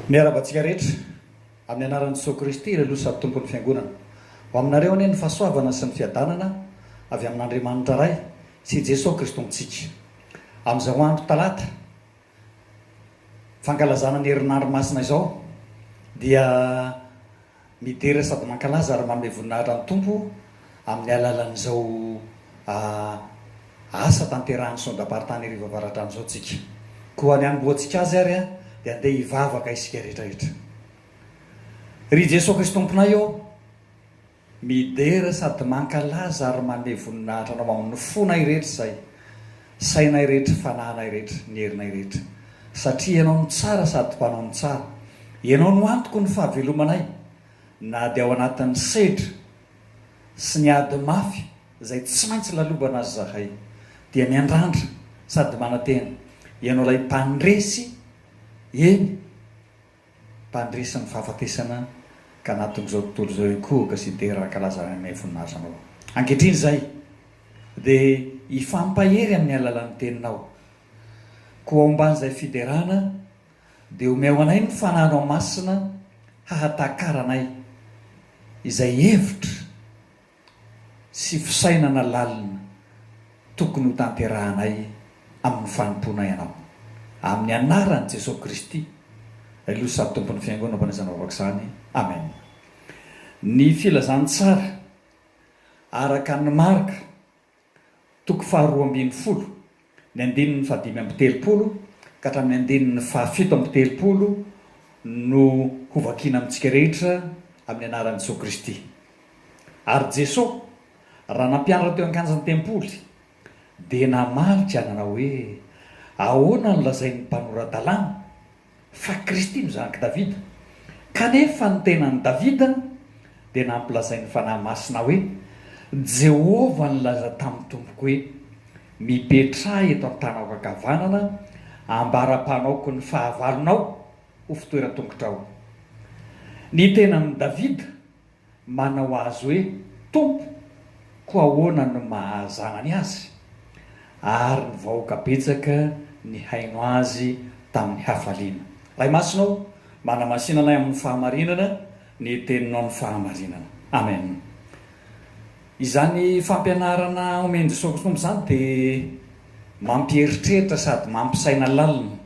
Miarahaba antsika rehetra amin'ny anaran'i Jesoa Kristy ilay Loha sady Tompon'ny Fiangonana. Ho aminareo anie ny fahasoavana sy ny fiadanana avy amin'Andriamanitra Ray sy Jesoa Kristontsika. Amin'izao andro talata fankalazana ny herinandro masina izao dia midera sady mankalaza ary manome voninahitra ny Tompo amin'ny alalan'izao asa tanterahan'ny Sondamparitany Iarivo Avaradrano izao tsika. Koa ny hanombohantsika azy ary dia andeha hivavaka isika rehetra rehetra. Ry Jesoa Krisy Tomponay ô, Midera sady mankalaza ary maneho voninahitra Anao amin'ny fonay rehetra izay, sainay rehetra, fanahinay rehetra, ny herinay rehetra. Satria Ianao no tsara sady mpanao ny tsara. Ianao no antoko ny fahavelomanay, na dia ao anatin'ny sedra sy ny ady mafy izay tsy maintsy lalovana aza izahay, dia miandrandra sady manantena Ianao ilay Mpandresy, eny, Mpandresy ny fahafatesana ka anatin'izao tontolo izao ikohoka sy dera arakalaza any aminay voninahitranao. Ankehitriny izahay dia hifampahery amin'ny alalan'ny Teninao. Koa ao ambanin'izay fiderana dia omeo anay ny Fananao Masina hahatakaranay izay hevitra, sy fisainana lalina tokony hotanterahanay amin'ny fanompoana ianao. Amin'ny anaran'i Jesoa Kristy, Ilay Loza sady Tompon'ny Fiangonana Mpanesana Vavaka izany. Amen. Ny filazantsara araka ny marika. Toko faharoa ambin'ny folo, ny andininy fahadimy amby telopolo ka hatramin'ny andininy fahafito amby telopolo no hovakiana amintsika rehetra amin'ny anaran'i Jesoa Kristy. Ary Jesoa, raha nampianatra teo an-kanjan'ny tempoly, dia namalika nanao hoe, Ahoana no lazain'ny mpanora-dalàna? fa Kristy no zanak'i Davida, kanefa ny tenan'i Davida dia nampilazain'ny Fanahy Masina hoe, Jehovah nilaza tamin'ny Tompoko hoe, Mipetraha eto an-tanako ankavanana, ambara-panaoko ny fahavalonao ho fitoeran-tongotrao. Ny tenan'i Davida Manao azy hoe Tompo, koa ahoana no maha-zanany azy? Ary ny vahoaka betsaka nihaino azy tamin'ny hafaliana. Ray Masina ô, manamasina anay amin'ny fahamarinana ny teninao ny fahamarinana. Amen. Izany fampianarana omen-Jesosy Kristy Tompo izany dia mampieritreritra sady mampisaina lalina.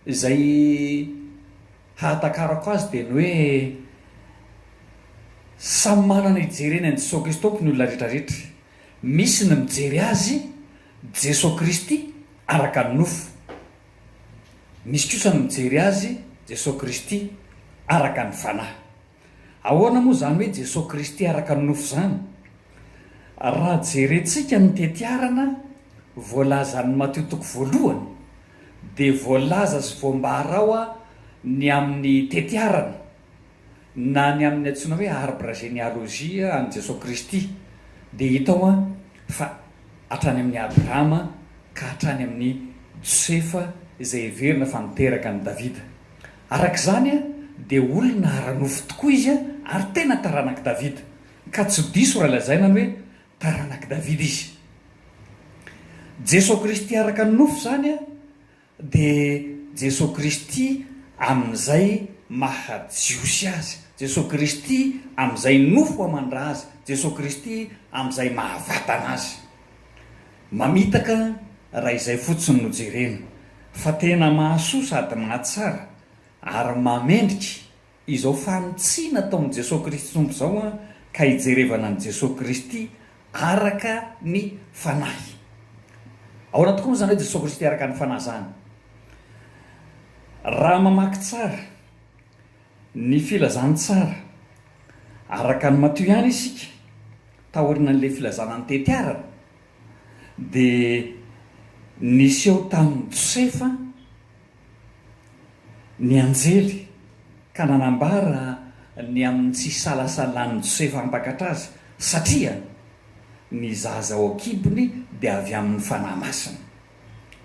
Izay hahatakarako azy dia ny hoe samy manana hijereny an'i Jesoa Kristy Tompo ny olona rehetra rehetra. Misy ny mijery Azy, Jesoa Kristy, araka ny nofo. Misy kosa ny mijery Azy, Jesoa Kristy, araka ny Fanahy. Ahoana moa izany hoe Jesoa Kristy araka ny nofo izany? Raha jerentsika ny tetiarana voalazan'ny Matio toko voalohany dia voalaza sy voambara ao ny amin'ny tetiarana na ny amin'ny antsoina hoe arbre généalogie an'i Jesoa Kristy dia hita ao fa hatrany amin'i Abrahama ka hatrany amin'i Josefa izay heverina fa niteraka an'i Davida. Araka izany, dia olona ara-nofo tokoa izy ary tena taranak'i Davida, ka tsy diso raha lazaina ny hoe taranak'i Davida izy. Jesoa Kristy araka ny nofo izany dia Jesoa Kristy amin'izay maha Jiosy azy, Jesoa Kristy amin'izay nofo aman-dra azy, Jesoa Kristy amin'izay maha vatana azy. Mamitaka raha izay fotsiny no jerena fa tena mahasoa sady mahatsara ary mamendrika izao fanitsiana ataon'i Jesoa Kristy Tompo izao an ka hijerevana an'i Jesoa Kristy araka ny Fanahy. Ahoana tokoa moa izany hoe Jesoa Kristy araka ny Fanahy izany? Raha mamaky tsara Ny filazantsara. Araka ny matoa ihany isika, taorian'ilay filazana ny tetiarana, dia niseho tamin'i Josefa ny anjely ka nanambara ny amin'ny tsy isalasalan'i Josefa hampakatra azy, satria ny zaza ao an-kibony dia avy amin'ny Fanahy Masina.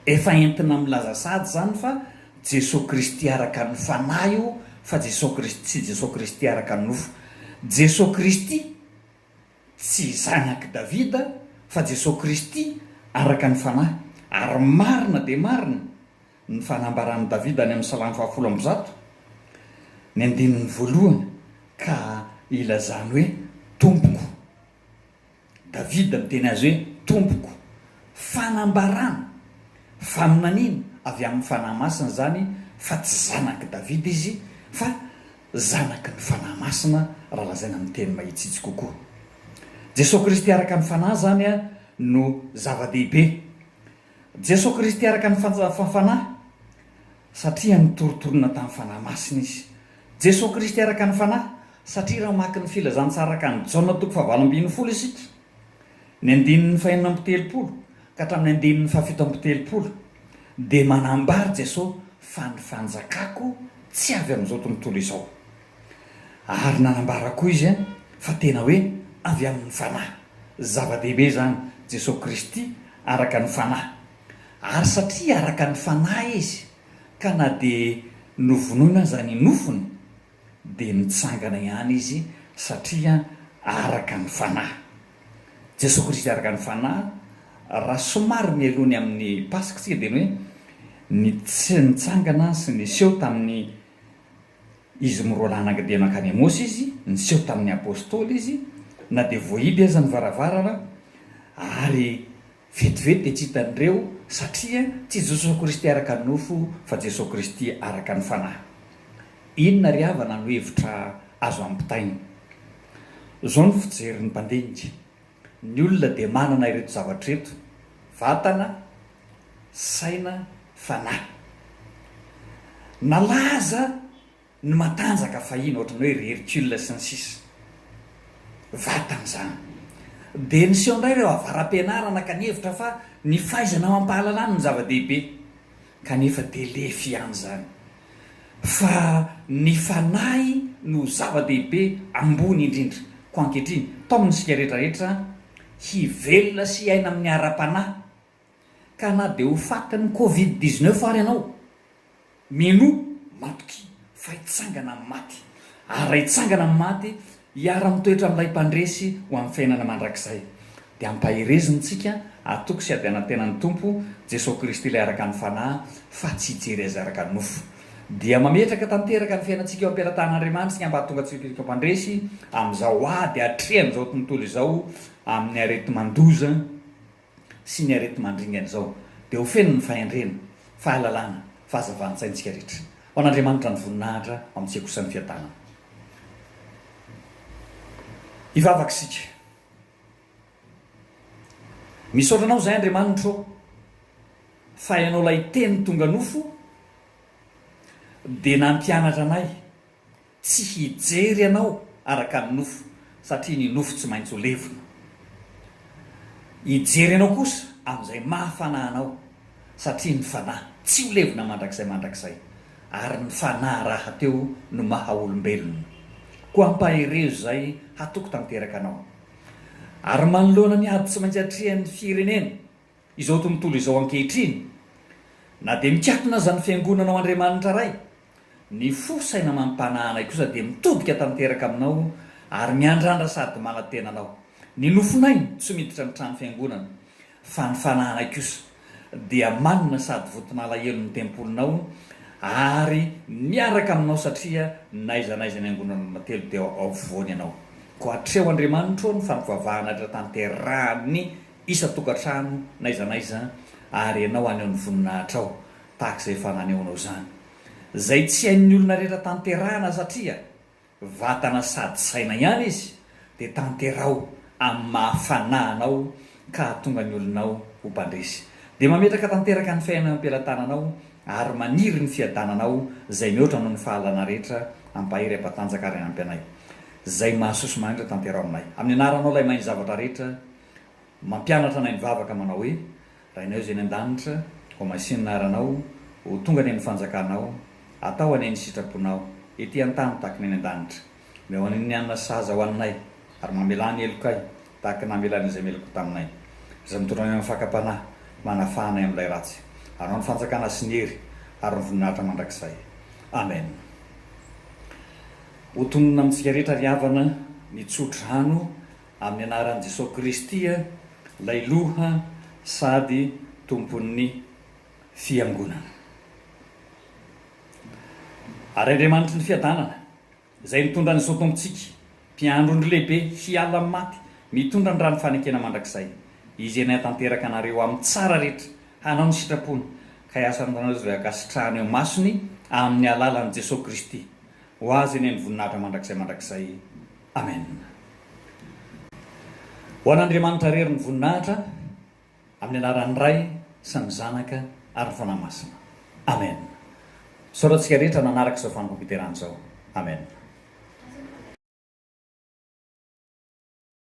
Efa entina milaza sahady izany fa Jesoa Kristy araka ny Fanahy io fa Jesoa Kristy tsy Jesoa Kristy araka ny nofo. Jesoa Kristy tsy zanak'i Davida fa Jesoa Kristy araka ny Fanahy. Ary marina dia marina ny fanambaran'i Davida any amin'ny Salamo fahafolo amby zato, ny andininy voalohany ka ilazany hoe, Tompoko. Davida miteny azy hoe, Tompoko. Fanambarana, faminaniana avy amin'ny Fanahy Masina izany fa tsy zanak'i Davida izy fa zanaky ny Fanahy Masina raha lazaina amin'ny teny mahitsitsy kokoa. Jesoa Kristy araka ny Fanahy izany no zava-dehibe. Jesoa Kristy araka ny Fanahy satria nitoritolona tamin'ny Fanahy Masina Izy Jesoa Kristy araka ny Fanahy, satria raha mamaky ny Filazantsara araka an'i Jaona toko fahavalo ambin'ny folo isika, ny andininy fahenina amby telopolo ka hatramin'ny andininy fahafito amby telopolo, dia manambara Jesoa fa ny fanjakako tsy avy amin'izao tontolo izao. Ary nanambara koa Izy fa tena hoe avy amin'ny Fanahy. Zava-dehibe izany, Jesoa Kristy araka ny Fanahy. Ary satria araka ny Fanahy Izy, ka na dia novonoina aza ny nofony dia nitsangana ihany izy satria araka ny fanahy. Jesoa Kristy araka ny fanahy, raha somary mialoha ny amin'ny Paska isika dia ny hoe ny tsy nitsangana sy niseho tamin'ny izy miroa lahy nangidia mankany Emôsy izy, niseho tamin'ny Apôstôly izy na dia voahidy aza ny varavarana ary Vetivety dia tsy hitan'ireo, satria tsy Jesosy Kristy araka ny nofo, fa Jesosy Kristy araka ny Fanahy. Inona ry havana no hevitra azo ampitaina? Izao no fijerin'ny mpandinika, Ny olona dia manana ireto zavatra ireto, vatana, saina, fanahy. Nalaza Ny matanjaka fahiny ohatran'ny hoe ry Hercule sy ny sisa vatany izany. Dia niseho indray ireo avara-pianarana ka nihevitra fa ny fahaizana amam-pahalalana no zava-dehibe. Kanefa dia lefy ihany izany. Fa ny fanahy no zava-dehibe ambony indrindra. Koa ankehitriny, tao amintsika rehetra rehetra hivelona sy hiaina amin'ny ara-panahy Ka na dia ho fatin'ny covid dix-neuf ary ianao, mienoa, matokia, fa hitsangana amin'ny maty. Ary raha hitsangana amin'ny maty, hiara-mitoetra amin'Ilay Mpandresy ho amin'ny fiainana mandrakizay. Dia ampahereziny isika, atoky sy adiana ny tenan'ny Tompo, Jesoa Kristy Ilay araka ny Fanahy, fa tsy hijery Azy araka ny nofo. Dia mametraka tanteraka ny fiainantsika eo am-pelatahan'Andriamanitra ny ambatoan-gatsipiriko Mpandresy, amin'izao ady atrehan'izao tontolo izao amin'ny areti-mandoza, sy ny areti-mandringana izao dia ho feno ny fahendrena, fahalalana, fahazavan-tsaintsika rehetra. Ho an'Andriamanitra ny voninahitra, ho amintsika kosa ny fiadanana. Hivavaka isika. Misaotra Anao izahay Andriamanitra ô, fa Ianao ilay Teny tonga nofo dia nampianatra anay Tsy hijery anao araka ny nofo, satria ny nofo tsy maintsy ho levona. Hijery anao kosa amin'izay maha-fanahy anao, satria ny fanahy tsy ho levona mandrakizay mandrakizay, ary ny fanahy rahateo no maha-olombelona. Koa ampaherezo izay hatoky tanteraka anao. Ary manoloana ny ady tsy maintsy atrehan'ny firenena, Izao tontolo izao ankehitriny, na dia mikatona aza ny Fiangonana ao Andriamanitra Ray, ny fo, saina amam-panahanay kosa dia mitodika tanteraka aminao ary miandrandra sady manantena anao. Ny nofonay tsy miditra ny trano fiangonana, fa ny fanahanay kosa dia manina sady vonton'alahelo ny tempolinao ary miaraka aminao satria n'aiza n'aiza ny angonan'olona telo dia ao afovoany ianao. Koa hatreo Andriamanitro o ny fampivavahana rehetra tanterahan'ny isan-tokantrano n'aiza n'aiza ary ianao haneho ny voninahitrao tahaka izay efa nanehoanao izany. Izay tsy hain'ny olona rehetra tanterahana satria vatana sady saina ihany izy dia tanteraho amin'ny maha fanahy anao ka hahatonga ny olonao ho mpandresy. Dia mametraka tanteraka ny fiainana eo am-pelatananao ary maniry ny fiadananao izay mihoatra noho ny fahalalana rehetra ampahery ampatanjaka ary ampy anay izay mahasoa sy mahantra tanteraho aminay amin'ny anaranao ilay mahay ny zavatra rehetra Mampianatra anay mivavaka manao hoe, Rainay izay any an-danitra, homasin' ny anaranao, ho tonga anie ny fanjakanao, atao anie ny sitraponao, ety an-tany tahaka ny any an-danitra. Omeo anay ny hanina sahaza hohaninay, ary mamelà ny helokay tahaka ny namelanay izay meloko taminay. Izay mitondra anay amin'ny fakam-panahy, manafaha anay amin'ilay ratsy. Anao ny fanjakana sy ny hery ary ny voninahitra mandrakizay. Amen. Ho tononina amintsika rehetra ry havana ny tsodrano amin'ny anaran'i Jesoa Kristy ilay Loha sady Tompon'ny Fiangonana. Ary Andriamanitry ny Fiadanana, izay nitondra an'izao Tompontsika, Mpiandry ondry lehibe hiala amin'ny maty, mitondra ny Rany Fanekena Mandrakizay, Izy iany hahatanteraka anareo amin'ny tsara rehetra, hanao ny sitrapony, ka hiasa aminareo izay ankasitrahany eo imasony amin'ny alalan'i Jesoa Kristy. Ho Azy anie ny Voninahitra mandrakizay mandrakizay. Amen. Ho an'Andriamanitra rery ny voninahitra amin'ny anaran'ny Ray sy ny Zanaka ary ny Fanahy Masina. Amen. Isaorantsika rehetra nanaraka izao fanompoam-piterahana izao. Amen.